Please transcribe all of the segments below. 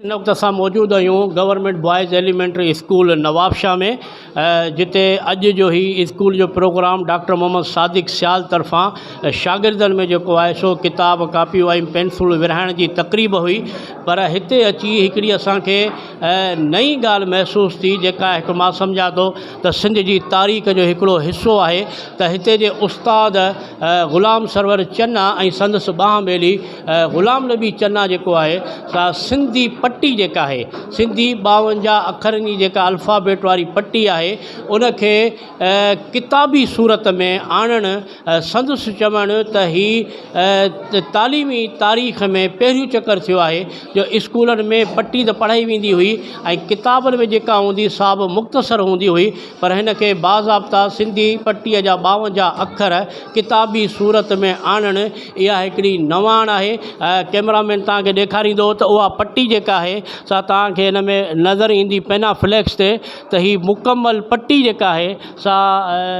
ان وقت اسان موجود آهيون government boys elementary school Nawabshah ۾ جتي اڄ جو هي اسڪول جو پروگرام ڊاڪٽر محمد صادق سيال طرفان شاگردن ۾ جيڪو آهي سو ڪتاب ڪاپيون ۽ پينسلون ورهائڻ جي تقريب هئي پر هتي اچي هڪڙي اسانکي نئين ڳالهه محسوس ٿي جيڪا هڪ مان سمجهان ٿو ته سنڌ جي تاريخ جو هڪڙو حصو آهي ته هتي جي استاد غلام سرور چنا ۽ سندس ٻانهن ٻيلي غلام نبي چنا جيڪو آهي سا سنڌي پٽي جيڪا آهي سنڌي ٻاونجاهه اکرن جي جيڪا الفابيٽ واري پٽي آهي ان کي ڪتابي صورت ۾ آڻڻ سندس چوڻ ته هي تعليمي تاريخ ۾ پهريون چڪر ٿيو آهي جو اسڪولن ۾ پٽي ته پڙهائي ويندي هئي ۽ ڪتابن ۾ جيڪا هوندي سا به مختصر هوندي هئي پر هن کي باضابطا سنڌي پٽي جا ٻاونجاهه اکر ڪتابي صورت ۾ آڻڻ اها هڪڙي نواڻ آهي ڪئميرا مين توهان کي ڏيکاريندو ته اها پٽي جيڪا آهي سا توهان کي هن ۾ نظر ايندي پينا فليڪس تي ته هي مڪمل پٽي جيڪا آهي سا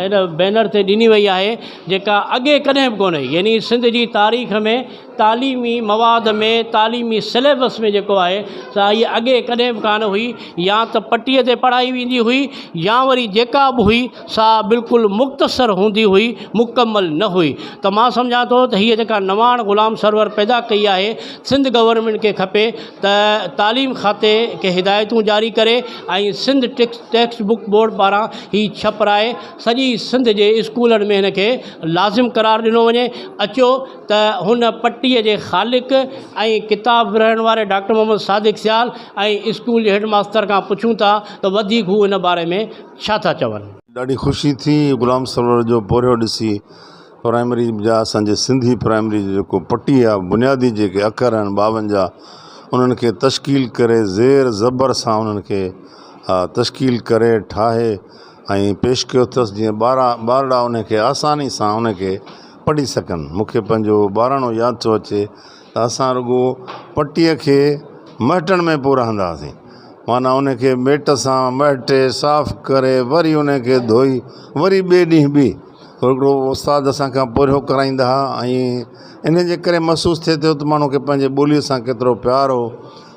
هن بينر تي ڏني وئي آهي جيڪا اڳي ڪڏهن به ڪونه هئي يعني سنڌ جي تاريخ ۾ تعليمي مواد ۾ تعليمي سليبس ۾ جيڪو آهي سا هيء اڳي ڪڏهن به ڪانه هئي يا ته پٽيء تي پڙهائي ويندي هئي يا وري جيڪا به هئي سا بلڪل مختصر هوندي هئي مڪمل نه هئي ته مان سمجهان ٿو ته هيء جيڪا نواڻ غلام سرور پيدا ڪئي آهي سنڌ گورنمينٽ کي کپي ته تعليم کاتي کي هدايتون جاري ڪري ۽ سنڌ ٽيڪسٽ بڪ بورڊ پاران هي ڇپرائي سڄي سنڌ جي اسڪولن ۾ هن کي لازم قرار ڏنو وڃي اچو ته هن پٽي جي خالق ۽ ڪتاب ورهائڻ واري ڊاڪٽر محمد صادق سيال ۽ اسڪول جي هيڊ ماستر کان پڇون ٿا ته وڌيڪ هو ان باري ۾ ڇا ٿا چون. ڏاڍي خوشي ٿي غلام سرور جو پورهيو ڏسي پرائمري جا اسان جي سنڌي پرائمري جو جيڪو پٽي آ بنيادي جيڪي اکر آهن ٻاونجاهه انهن کي تشڪيل ڪري زير زبر سان انهن کي تشڪيل ڪري ٺاهي ۽ پيش ڪيو اٿس جيئن ٻارا ٻارڙا انهن کي آساني سان انهن کي پڙهي سگهن مون کي پنهنجو ٻاراڻو ياد ٿو اچي ته اسان رڳو پٽيء کي مهٽڻ ۾ پو رهندا هئاسين معنيٰ انهن کي ميٽ سان مهٽي صاف ڪري وري انهن کي ڌوئي وري ٻئي ڏينهن ٻي هو هڪڙو استاد اسان کان پورهيو ڪرائيندا ها ۽ انهيء جي ڪري محسوس ٿئي ٿو ته ماڻهو کي پنهنجي ٻوليء سان ڪيترو پيار هو.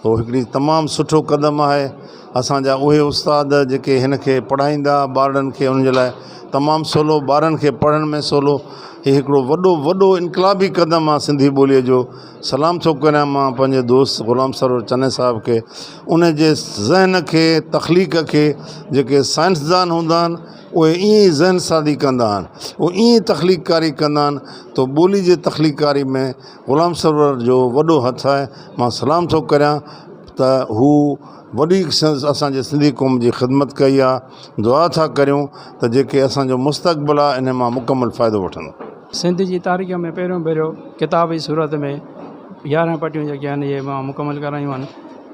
هو هڪڙي تمام سٺو قدم آهي. اسان جا اهي استاد جيڪي هن کي پڙهائيندا ها ٻارڙن کي انهن جي لاء تمام سولو ٻارن کي پڙهڻ ۾ سولو. هي هڪڙو وڏو وڏو انقلابي قدم آهي سنڌي ٻوليء جو. سلام ٿو ڪريان مان پنهنجي دوست غلام سرور چني صاحب کي انهيء جي ذهن کي تخليق کي جيڪي سائنسدان هوندا آهن اهي ائين ئي ذهن سازي ڪندا آهن، اهي ائين ئي تخليق ڪاري ڪندا آهن تو ٻولي جي تخليق ڪاري ۾ غلام سرور جو وڏو هٿ آهي، مان سلام ٿو ڪريان ته هو وڏي اسان جي سنڌي قوم جي خدمت ڪئي آهي، دعا ٿا ڪريون ته جيڪي اسان جو مستقبل آهي انهي مان مڪمل فائدو وٺندو. سنڌ جي تاريخ ۾ پهريون ڀيرو ڪتاب جي صورت ۾ يارهن پٽيون جيڪي آهن اهي مان مڪمل ڪرايون آهن،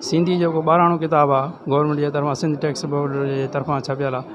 سنڌي جيڪو ٻاراڻو ڪتاب آهي گورنمينٽ جي طرفان سنڌ ٽيڪسٽ بورڊ جي طرفان ڇپيل آهي.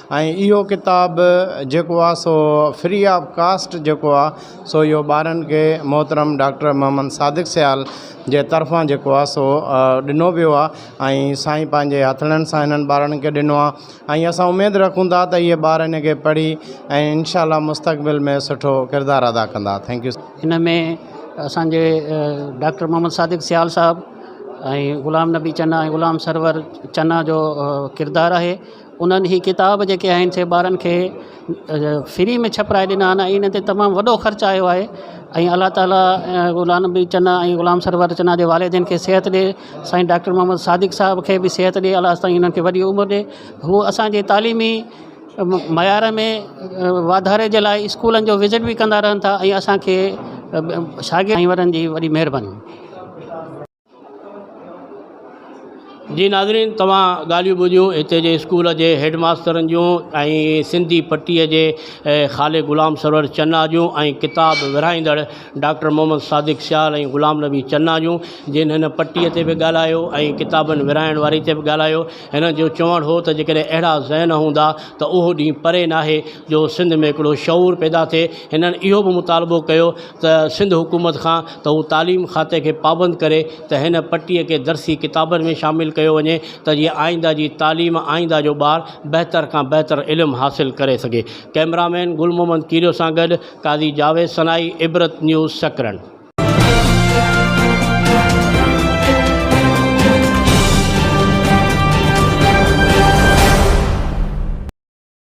۽ اهو ڪتاب جيڪو آ سو فري آف ڪاسٽ جيڪو آ سو اهو ٻارن کي محترم ڊاڪٽر محمد صادق سيال جي طرفان جيڪو آ سو ڏنو ويو آ ۽ سائين پنهنجي هٿڙن سان هنن ٻارن کي ڏنو آ ۽ اسان اميد رکون ٿا ته اهي ٻار ان کي پڙهي ۽ انشاء الله مستقبل ۾ سٺو ڪردار ادا ڪندا ٿينڪ يو ان ۾ اسانجي ڊاڪٽر محمد صادق سيال صاحب ۽ غلام نبي چنا ۽ غلام سرور چنا جو ڪردار آهي انهن هي ڪتاب جيڪي آهن سي ٻارن کي فري ۾ ڇپرائي ڏنا آهن ۽ ان تي تمام وڏو خرچ آيو آهي ۽ الله تعاليٰ غلام نبي چنا ۽ غلام سرور چنا جي والدين کي صحت ڏي سائين ڊاڪٽر محمد صادق صاحب کي بي صحت ڏي الله سائين انهن کي وڏي عمر ڏي هو اسانجي تعليمي معيار ۾ واڌاري جي لاء اسڪولن جو وزٽ بي ڪندا رهن ٿا ۽ اسانکي شاگرد ۽ وڏن جي وڏي مهرباني جي ناظرين توهان ڳالهيون ٻڌيون هتي جي اسڪول جي هيڊ ماسترن جون ۽ سنڌي پٽي جي خالق غلام سرور چنا جون ۽ ڪتاب ورهائيندڙ ڊاڪٽر محمد صادق سيال ۽ غلام نبي چنا جون جن هن پٽي تي به ڳالهايو ۽ ڪتابن ورهائڻ واري تي به ڳالهايو هنن جو چوڻ هو ته جيڪڏهن اهڙا ذهن هوندا ته اهو ڏينهن پري ناهي جو سنڌ ۾ هڪڙو شعور پيدا ٿئي هنن اهو به مطالبو ڪيو ته سنڌ حڪومت کان ته هو تعليم کاتي کي پابند ڪري ته هن پٽي کي درسي ڪتابن ۾ شامل ڪيو وڃي ته جيئن آئينده جي تعليم آئينده جو ٻار بهتر کان بهتر علم حاصل ڪري سگهي ڪئميرا مين گل محمد ڪيريو سان گڏ قاضي جاويد سنائي عبرت نيوز سڪرنڊ.